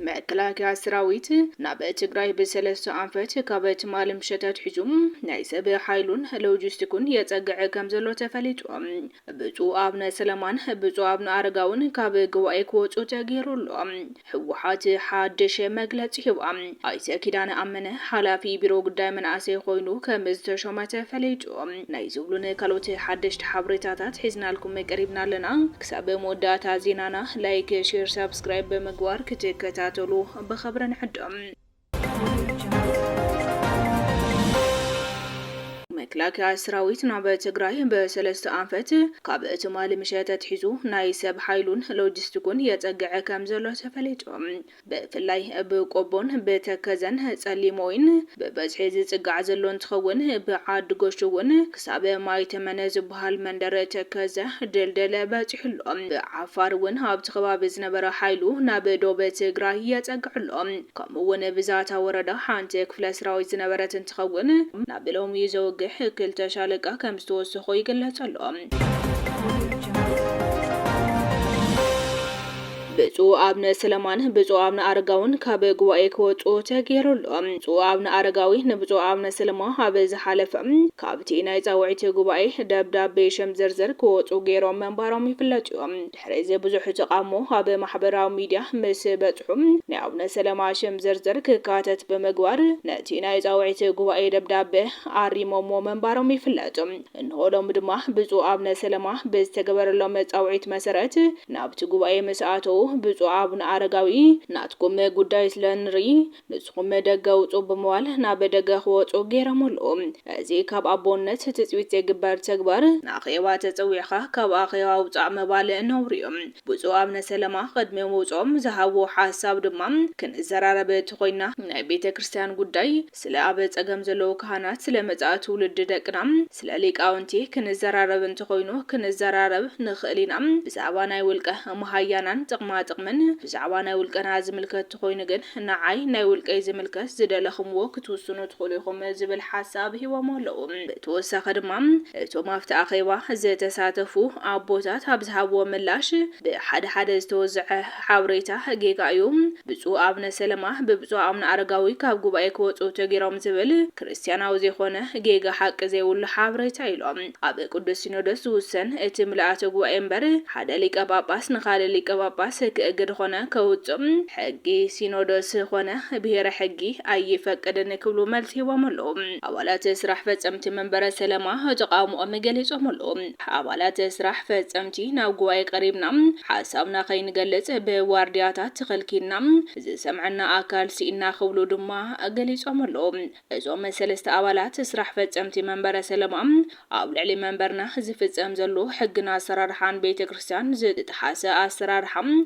መከላከያ ሰራዊት ናብ ትግራይ ብሰለስተ ኣንፈት ካብ ትማሊ ምሸት ኣትሒዙ ናይ ሰብ ሓይሉን ሎጂስቲኩን የፀግዐ ከምዘሎ ተፈሊጡ። ብፁእ ኣብነ ስለማን ብፁእ ኣብነ ኣረጋውን ካብ ጉባኤ ክወፁ ተገይሩ ኣሎ ህወሓት ሓድሽ መግለፂ ሂባ። ኣይተ ኪዳነ ኣመነ ሓላፊ ቢሮ ጉዳይ መናእሰይ ኾይኑ ከም ዝተሾመ ተፈሊጡ። ናይ ዝብሉን ካልኦት ሓደሽቲ ሓበሬታታት ሒዝናልኩም ቀሪብና ኣለና። ክሳብ መወዳእታ ዜናና ላይክ፣ ሼር፣ ሳብስክራይብ ብምግባር ክትከታተሉ ብኽብሪ ንዕድም። መክላከያ ስራዊት ናብ ትግራይ ብሰለስተ ኣንፈት ካብ ትማሊ ምሸት ኣትሒዙ ናይ ሰብ ሓይሉን ሎጂስቲኩን የፀግዐ ከም ዘሎ ተፈሊጡ። ብፍላይ ብቆቦን ብተከዘን ፀሊም ወይን ብበዝሒ ዝፅጋዕ ዘሎ እንትኸውን ብዓዲ ጎሹ እውን ክሳብ ማይ ተመን ዝብሃል መንደር ተከዘ፣ ድልድል፣ በጺሑ ኣሎ። ብዓፋር እውን ኣብቲ ከባቢ ዝነበረ ሓይሉ ናብ ዶብ ትግራይ የጸግዕ ኣሎ። ከምኡ እውን ብዛታ ወረዳ ሓንቲ ክፍለ ስራዊት ዝነበረት እንትኸውን ናብ ሎሚ ዘውግሕ ክልተ ሻለቃ ከም ዝተወሰኾ ይግለፅ ኣሎ። ብፁዕ ኣብነ ስለማን ብፁዕ ኣብነ ኣረጋውን ካብ ጉባኤ ክወፅኡ ተገይሩ ኣሎ። ብፁዕ ኣብነ ኣረጋዊ ንብፁዕ ኣብነ ስለማ ኣብ ዝሓለፈ ካብቲ ናይ ፃውዒት ጉባኤ ደብዳቤ ሽም ዝርዝር ክወፁ ገይሮም ምንባሮም ይፍለጥ እዩ። ድሕሪ እዚ ብዙሕ ተቓውሞ ኣብ ማሕበራዊ ሚድያ ምስ በፅሑ ናይ ኣቡነ ሰለማ ሽም ዝርዝር ክካተት ብምግባር ነቲ ናይ ፃውዒት ጉባኤ ደብዳበ ኣሪሞምዎ ምንባሮም ይፍለጥ። እንሆ ሎሚ ድማ ብፁዕ ኣብነ ሰለማ ብዝተገበረሎም መጻውዒት መሰረት ናብቲ ጉባኤ ምስ ኣተዉ ብፁዕ ኣብነ ኣረጋዊ ናትኩም ጉዳይ ስለ እንርኢ ንስኹም ደገ ውጹ ብምባል ናብ ደገ ክወጹ ገይረምሉ። እዚ ካብ ኣቦነት ትጽቢት ዘይግበር ተግባር፣ ንኣኼባ ተጸዊዕካ ካብ ኣኼባ ውጻእ ምባል ነውሪ'ዩ። ብፁዕ ኣብነ ሰለማ ቅድሚ ምውጽኦም ዝሃብዎ ሓሳብ ድማ ክንዘራረብ ተኾይንና ናይ ቤተ ክርስቲያን ጉዳይ፣ ስለ ኣብ ጸገም ዘለዉ ካህናት፣ ስለ መጻኢ ትውልዲ ደቅና፣ ስለ ሊቃውንቲ ክንዘራረብ እንተኾይኑ ክንዘራረብ ንኽእል ኢና። ብዛዕባ ናይ ውልቀ መሃያናን ጥቕማ ጥቕምን፣ ብዛዕባ ናይ ውልቀና ዝምልከት ተኾይኑ ግን ንዓይ ናይ ውልቀይ ዝምልከት ዝደለኹምዎ ክትውስኑ ትኽእሉ ኢኹም ዝብል ሓሳብ ሂቦሞ ኣለዉ። ብተወሳኺ ድማ እቶም ኣብቲ ኣኼባ ዝተሳተፉ ኣቦታት ኣብ ዝሃብዎ ምላሽ ብሓደ ሓደ ዝተወዘዐ ሓብሬታ ጌጋ እዩ ብጹእ ኣብነ ሰለማ ብብጹእ ኣብነ ኣረጋዊ ካብ ጉባኤ ክወጹ ተጌሮም ዝብል ክርስትያናዊ ዘይኮነ ጌጋ ሓቂ ዘይብሉ ሓብሬታ እዩ ሎም ኣብ ቅዱስ ሲኖዶስ ዝውሰን እቲ ምልኣተ ጉባኤ እምበር ሓደ ሊቀ ጳጳስ ንካልእ ሊቀ ጳጳስ ክእግድ ኾነ ከውጽእ ሕጊ ሲኖዶስ ኾነ ብሔረ ሕጊ ኣይፈቅድን ክብሉ መልሲ ሂቦም ኣለው ኣባላት ስራሕ ፈጸምቲ መንበረ ሰለማ ተቃውሞኦም ገሊጾም ኣለው። ኣባላት ስራሕ ፈጸምቲ ናብ ጉባኤ ቀሪብና ሓሳብና ከይንገልጽ ብዋርድያታት ተኸልኪልና፣ ዝሰምዐና ኣካል ስኢንና ክብሉ ድማ ገሊጾም ኣለዉ። እዞም ሰለስተ ኣባላት ስራሕ ፈጸምቲ መንበረ ሰለማ፣ ኣብ ልዕሊ መንበርና ዝፍጸም ዘሎ ሕግን ኣሰራርሓን ቤተ ክርስቲያን ዝጥሓሰ ኣሰራርሓ፣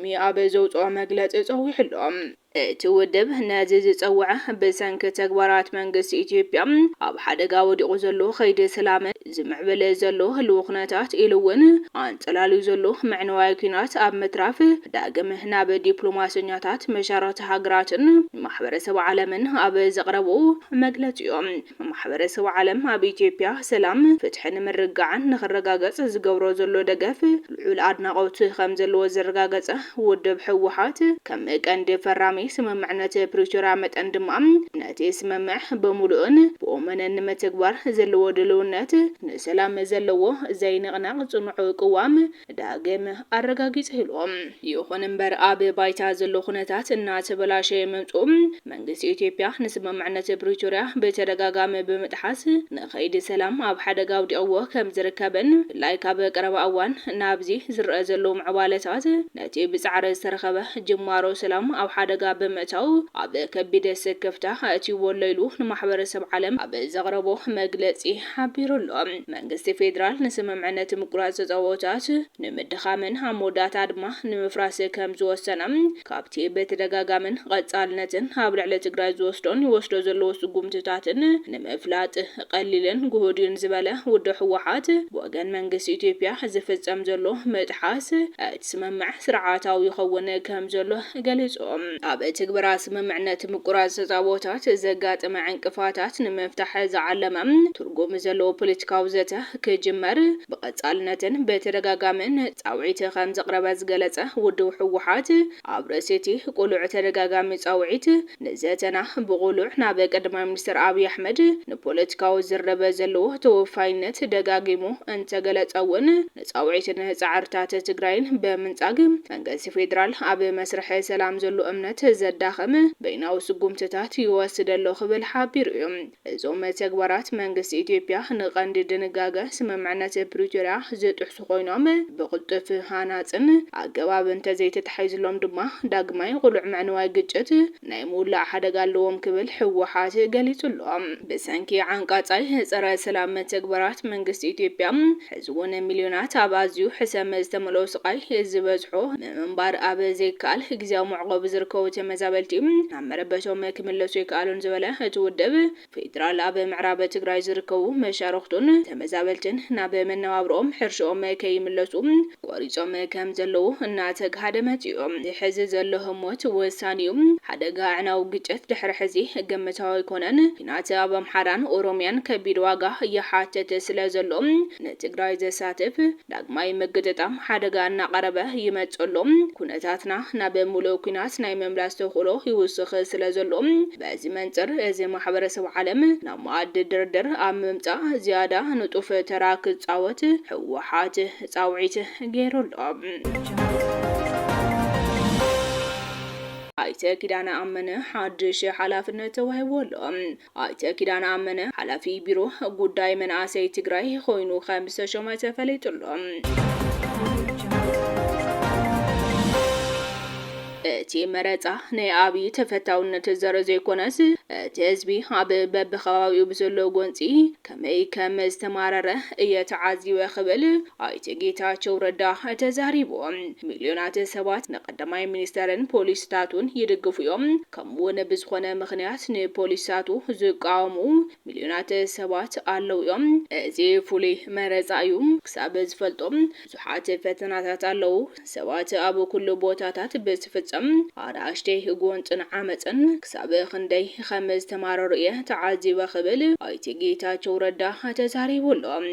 ሎሚ ኣብ ዘውጽኦ መግለጺ ጸዊዑ ኣሎ። እቲ ውድብ ነዚ ዝጸውዐ ብሰንኪ ተግባራት መንግስቲ ኢትዮጵያ ኣብ ሓደጋ ወዲቑ ዘሎ ከይዲ ሰላም፣ ዝምዕብል ዘሎ ህልዊ ኩነታት ኢሉ እውን ኣንጸላልዩ ዘሎ መዕነዋይ ኲናት ኣብ ምትራፍ ዳግም ናብ ዲፕሎማሰኛታት መሻርኽቲ ሃገራትን ማሕበረሰብ ዓለምን ኣብ ዘቕረቦ መግለጺ እዩ። ማሕበረሰብ ዓለም ኣብ ኢትዮጵያ ሰላም፣ ፍትሕን ምርግጋዕን ንኽረጋገፅ ዝገብሮ ዘሎ ደገፍ ልዑል ኣድናቖት ከምዘለዎ ዘረጋገፀ ውድብ ህወሓት፣ ከም ቀንዲ ፈራሚ ስምምዕነት ፕሪቶርያ መጠን ድማ ነቲ ስምምዕ ብሙሉእን ብወመነን ንመተግባር ዘለዎ ድልውነት፣ ንሰላም ዘለዎ ዘይንቕነቕ ፅኑዕ ቅዋም፣ ዳግም ኣረጋጊጸኢሉ። ይኹን እምበር ኣብ ባይታ ዘሎ ኩነታት እናተበላሸየ ምምጽኡ መንግስቲ ኢትዮጵያ ንስምምዕነት ፕሪቶርያ ብተደጋጋሚ ብምጥሓስ ንከይዲ ሰላም ኣብ ሓደጋ ኣውዲቕዎ ከምዝርከብን ብፍላይ ካብ ቀረባ እዋን ናብዚ ዝረኣ ዘሎ ምዕባለታት ነቲ ብጻዕሪ ዝተረኸበ ጅማሮ ሰላም ኣብ ሓደጋ ብምእታው ኣብ ከቢድ ስክፍታ ኣእትይዎ'ሎ ኢሉ ንማሕበረሰብ ዓለም ኣብ ዘቕረቦ መግለጺ ሓቢሩ ኣሎ። መንግስቲ ፌደራል ንስምምዕነት ምቁራጽ ጸወታት ንምድኻምን ኣብ መወዳእታ ድማ ንምፍራስ ከም ዝወሰነ ካብቲ ብተደጋጋምን ቐጻልነትን ኣብ ልዕሊ ትግራይ ዝወስዶን ይወስዶ ዘለዎ ስጉምትታትን ንምፍላጥ ቐሊልን ጉሁድዩን ዝበለ ውድብ ህወሓት ብወገን መንግስቲ ኢትዮጵያ ዝፍጸም ዘሎ ምጥሓስ እቲ ስምምዕ ስርዓታዊ ይኸውን ከም ዘሎ ገሊጹ። ኣብ ትግበራ ስምምዕነት ምቁራጽ ተጻብኦታት ዘጋጥመ ዕንቅፋታት ንምፍታሕ ዝዓለመ ትርጉም ዘለዎ ፖለቲካዊ ዘተ ክጅመር ብቐጻልነትን ብተደጋጋሚን ጻውዒት ከምዘቕረበ ዝገለጸ ውድብ ህወሓት፣ ኣብ ርእሲ'ቲ ቅሉዕ ተደጋጋሚ ጻውዒት፣ ንዘተና ብቕሉዕ ናብ ቀዳማይ ሚኒስተር ኣብይ ኣሕመድ ንፖለቲካዊ ዝርርብ ዘለዎ ተወፋይነት ደጋጊሙ እንተገለጸ'ውን፣ ፃውዒትን ፃዕርታት ትግራይን ብምንፃግ መንገስቲ ፌዴራል ኣብ መስርሕ ሰላም ዘሎ እምነት ዘዳኽም በይናዊ ስጉምትታት ይወስድ ኣሎ ክብል ሓቢሩ እዩ። እዞም ተግባራት መንግስቲ ኢትዮጵያ ንቀንዲ ድንጋገ ስምምዕነት ፕሪቶሪያ ዝጥሕሱ ኮይኖም ብቅልጡፍ ሃናፅን ኣገባብ እንተዘይተታሒዝሎም ድማ ዳግማይ ቕሉዕ ምዕንዋይ ግጭት ናይ ምውላዕ ሓደጋ ኣለዎም ክብል ህወሓት ገሊፁ ኣሎ። ብሰንኪ ዓንቃፃይ ፀረ ሰላም መተግበራት መንግስቲ ኢትዮጵያ ሕዚ እውን ሚልዮናት ኣብ ኣዝዩ ሕሰም ዝተመልኦ ስቓይ ዝበዝሖ ምምንባር ኣብ ዘይከኣል ግዝያዊ መዕቖቢ ዝርከቡ ተመዛበልቲ ናብ መረበቶም ክምለሱ ኣይከኣሉን ዝበለ እቲ ውድብ፣ ፌዴራል ኣብ ምዕራብ ትግራይ ዝርከቡ መሻርኽቱን ተመዛበልትን ናብ መነባብሮኦም፣ ሕርሽኦም፣ ከይምለሱ ቆሪፆም ከምዘለዉ እናተግሃደ መፂኡ። እዚ ሕዚ ዘሎ ህሞት ወሳኒ እዩ። ሓደጋ ኣዕናዊ ግጭት ድሕሪ ሕዚ ግምታዊ ኣይኮነን። ኲናት ኣብ ኣምሓራን ኦሮሚያን ከቢድ ዋጋ ይሓትት ስለዘሎ ንትግራይ ዘሳትፍ፣ ዳግማይ ምግጥጣም ሓደጋ እናቐረበ ይመጽእ ኣሎ። ኩነታትና ናብ ምሉእ ኩናት ናይ ምምላስ ተኽእሎ ይውስኽ ስለ ዘሎ፣ በዚ መንጽር እዚ ማሕበረሰብ ዓለም ናብ መኣዲ ድርድር ኣብ ምምጻእ ዝያዳ ንጡፍ ተራ ክጻወት ህወሓት ጻውዒት ገይሩ ኣሎ። ኣይተ ኪዳነ ኣመነ ሓድሽ ሓላፍነት ተዋሂብዎ ኣሎ። ኣይተ ኪዳነ ኣመነ ሓላፊ ቢሮ ጉዳይ መናእሰይ ትግራይ ኾይኑ ከምዝተሾመ ተፈሊጡ'ሎ። እቲ መረፃ ናይ ኣብዪ ተፈታውነት ዘርኢ ዘይኮነስ እቲ ህዝቢ ኣብ በቢከባቢኡ ብዘሎ ጎንፂ ከመይ ከምዝተማረረ እየ ተዓዚበ ክብል ኣይተ ጌታቸው ረዳ ተዛሪቡ። ሚልዮናት ሰባት ንቀዳማይ ሚኒስተርን ፖሊሲታቱን ይድግፉ እዮም፣ ከምኡ'ውን ብዝኾነ ምኽንያት ንፖሊሲታቱ ዝቃወሙ ሚልዮናት ሰባት ኣለዉ እዮም። እዚ ፍሉይ መረጻ እዩ። ክሳብ ዝፈልጦ ብዙሓት ፈተናታት ኣለዉ። ሰባት ኣብ ኩሉ ቦታታት ብዝፍጸም ኣናእሽተይ ጎንጽን ዓመጽን ክሳብ ክንደይ ከም ዝተማረሩ እየ ተዓዚበ ክብል ኣይተ ጌታቸው ረዳ ተዛሪቡ ኣሎ።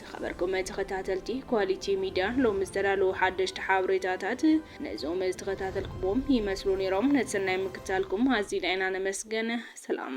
ዝኸበርኩም ተኸታተልቲ ኳሊቲ ሚድያ ሎሚ ዝተዳለዉ ሓደሽቲ ሓበሬታታት ነዞም ዝተኸታተልኩምዎም ይመስሉ ነይሮም። ነቲ ሰናይ ምክትታልኩም ኣዚና ኢና ነመስግን። ሰላም።